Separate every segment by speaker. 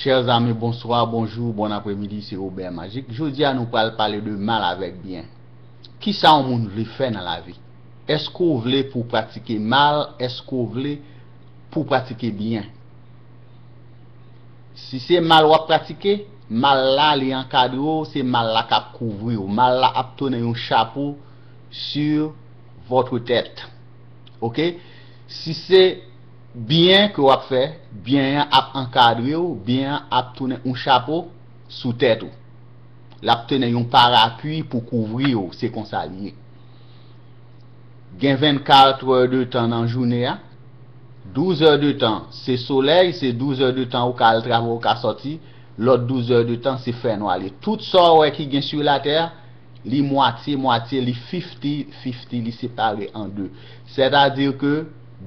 Speaker 1: Chers amis bonsoir, bonjour, bon après midi se Robert Magic jodia nou pral pale de mal avek byen kisa yon moun vle fè nan lavi eske ou vle pou pratike mal eske ou vle pou pratike byen si se mal wap pratike mal la li ankadre w se mal la kap kouvri w mal la ap tounen yon chapo sur votre tête ok si se Byen ke wap fè, byen an ap ankadre w, byen an ap tounen on chapo sou tèt ou. Lap tounen yon parapui pou kouvri w, se konsa li ye. Gen 24 trè de tan nan joune a, 12 è de tan se solèy, se 12 è de tan ou ka al travay ou ka sòti, lòt 12 è de tan se fènwa li. Tout sa w wè ki gen su latè, li mwatye mwatye, li fifti fifti, li separe an de. Sètadi ke.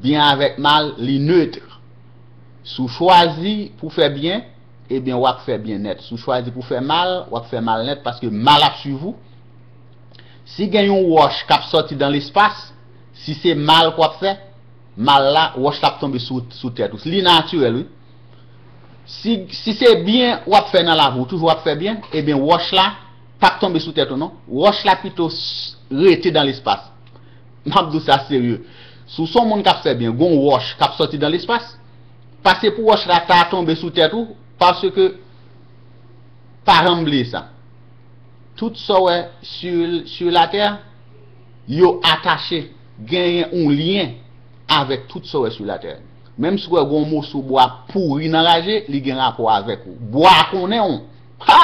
Speaker 1: Byen avèk mal, li neutre. Si w chwazi pou w fè byen, ebyen w ap fè byen nèt. Si w chwazi pou w fè mal, w ap fè mal nèt paske mal ap swiv ou. Si gen yon wòch k ap sòti dan lespas, si se mal ke w ap fè, mal la, wòch la ap tonbe sou tèt ou. Li natirèl wi. Si, si se byen w ap fè nan lavi w, ou toujou ap fè byen, ebyen wòch la p ap tonbe sou tèt ou non. Wòch la pito rete dan lespas. Map di w sa serye, si w son moun kap fè byen gon wòch kap sòti dan lespas, pase pou wòch la ta tonbe sou tèt ou paske pa janm bliye sa tout sa w wè sur la terre yo atache genyen yon lyen avèk tout sa w wè sur la terre menm si w wè gon moso bwa pouri nan raje li gen rapò avèk ou bwa a konnen w ha!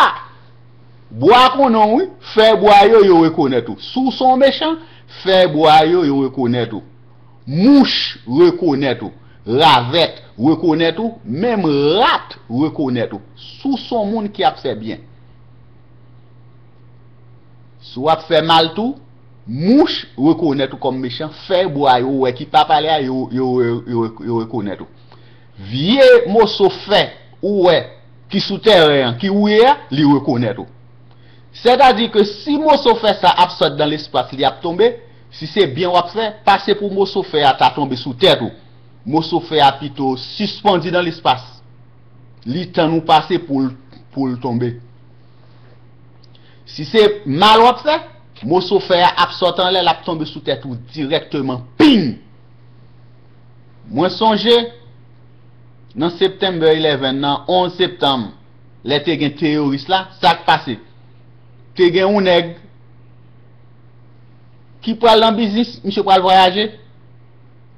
Speaker 1: Bwa konnen w wi, fè bwa yo yo rekonèt ou. Si w se yon mechan, fè bwa yo yo rekonèt ou. Mouch rekonèt ou, ravèt rekonèt ou, menm rat rekonèt ou. Si w se yon moun ki ap fè byen. Si w ap fè mal tou, mouch rekonèt ou kòm mechan, fè bwa yo wè ki pa pale a yo yo rekonèt ou. Vye moso fè ou wè ki sou tèren an ki wouye a, li rekonèt ou. Sètadi ke si moso fè sa ap sot dan lespas li ap tonbe, si se byen w ap fè, pase pou moso fè a ta tonbe sou tèt ou. Moso fè a pito sispandi dan lespas. Li tann ou pase pou l pou l tonbe. Si se mal w ap fè, moso fè a ap sot anlè l ap tonbe sou tèt ou dirèkteman. Ping! Mwen sonje, nan September 11 nan, 11 septanm, lè te gen teyoris la, sa k pase? Te gen yon nèg ki pral nan biznis, misye pral vwayaje,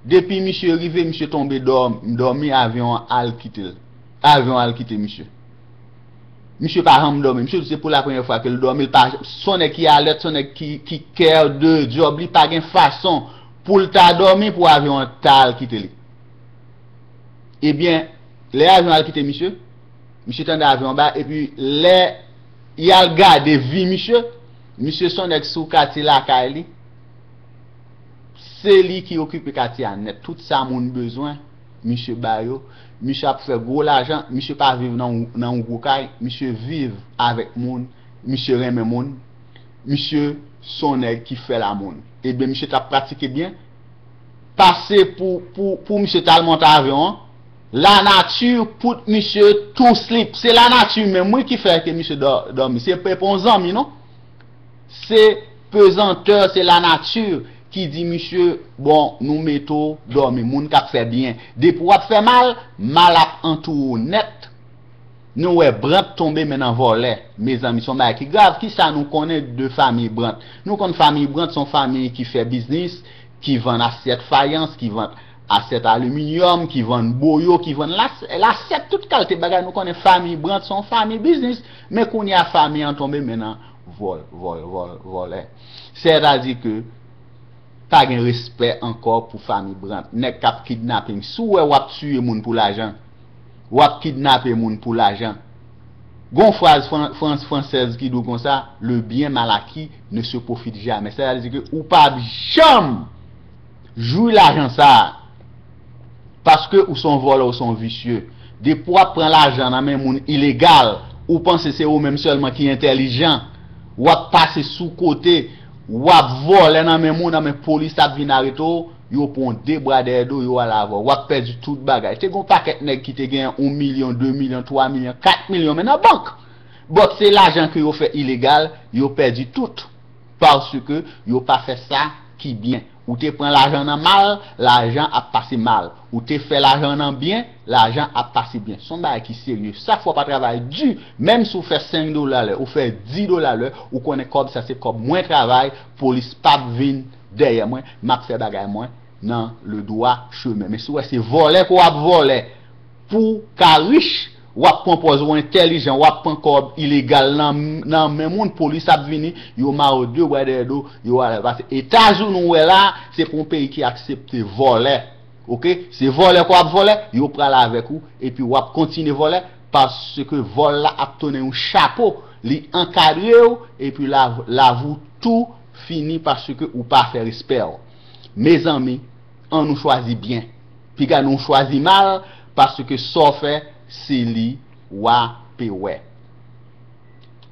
Speaker 1: depi misye rive, misye tonbe dòmi, avyon an al kite l. Avyon an al kite misye. Misye pa janm dòmi. Misye di se pou la premyè fwa ke l dòmi, l pa, s on nèg ki alèt, s on nèg ki care de job li, pa gen fason. Pou l ta dòmi pou avyon an ta al kite li. Ebyen, lè avyon al kite misye, misye tande avyon an ba, epi lè y al gade vi misye, misye s on nèg sou katye lakay li, se li ki okipe katye a nèt, tout sa moun bezwen, misye ba yo, misye ap fè gwo lajan, misye pa viv nan yon gwo kay, misye viv avèk moun, misye renmen moun. misye son nèg ki fè la moun ebyen misye tap pratike byen pase pou pou pou misye tal monte avyon an la nati put misye tou slip se la nati menm wi ki fè ke misye dò dòmi se pe pon zanmi non se pezantè se la nati ki di misye bon nou mete ou dòmi moun kap fè byen depi wap fè mal mal ap antoure w nèt. Nou wè Brandt tonbe men nan vòlè. Mezanmi son bagay ki grav. Kisa nou konnen de famiy Brandt? Nou konn famiy Brandt son famiy ki fè biznis, ki vann asyèt fayans, ki vann asyèt aliminyòm, ki vann boyo, ki vann lasyèt, tout kalte bagay. Nou konnen famiy Brandt son famiy biznis. Men kounye a famiy an tonbe men nan vòl, vòl, vòl, vòlè. Sètadi ke pa gen respè ankò pou famiy Brandt. Nèg kap kidnaping. Si w wè wap tiye moun pou lajan. wap kidnape moun pou lajan. Gon fraz fran française ki dou konsa, le bien mal acquis ne se profite jamais. Sè ta di ke ou pap janm jwi lajan sa a. Paske ou son vòlè ou son visye. Depi wap pran lajan nan men moun ilegal, ou panse se ou menm sèlman ki entèlijan. Wap pase sou kote, wap vòlè nan men moun, anben polis ap vin arete w. Yo pran w de bra dèyè do, yo ale avè w. W ap pèdi tout bagay. Te gen yon pakèt nèg ki te genyen yon milyon, de milyon, twa milyon, kat milyon men nan bank. But se lajan ke yo fè ilegal, yo pèdi tout. Paske yo pa fè sa ki byen. Ou te pran lajan nan mal, lajan ap pase mal. Ou te fè lajan nan byen, lajan ap pase byen. Son bagay ki serye. Chak fwa w pa travay di, menm si w fè 5 dola lè, ou fè 10 dola lè, ou konnen kòb sa se kòb mwen travay, polis pap vin, dèyè mwen map fè bagay mwen nan le dwa chemen men si wè se vòlè ke wap vòlè pouw ka rich wap pwan pòz ou entèlijan wap pwan kòb ilegal nan men moun polis ap vini yo marew de bwa dèyè do yo alèw pase etazouni ou wè la se pa yon peyi ki aksepte vòlè ok se vòlè ke wap vòlè yo pral avèk ou epi wap kontinye vòlè paske vòl la ap tounen yon chapo li ankadrew epi lav ou tou fini paske ou pa fè respèw mezanmi an nou chwazi byen piga nou chwazi mal paske sa w fè se li wa pe wè.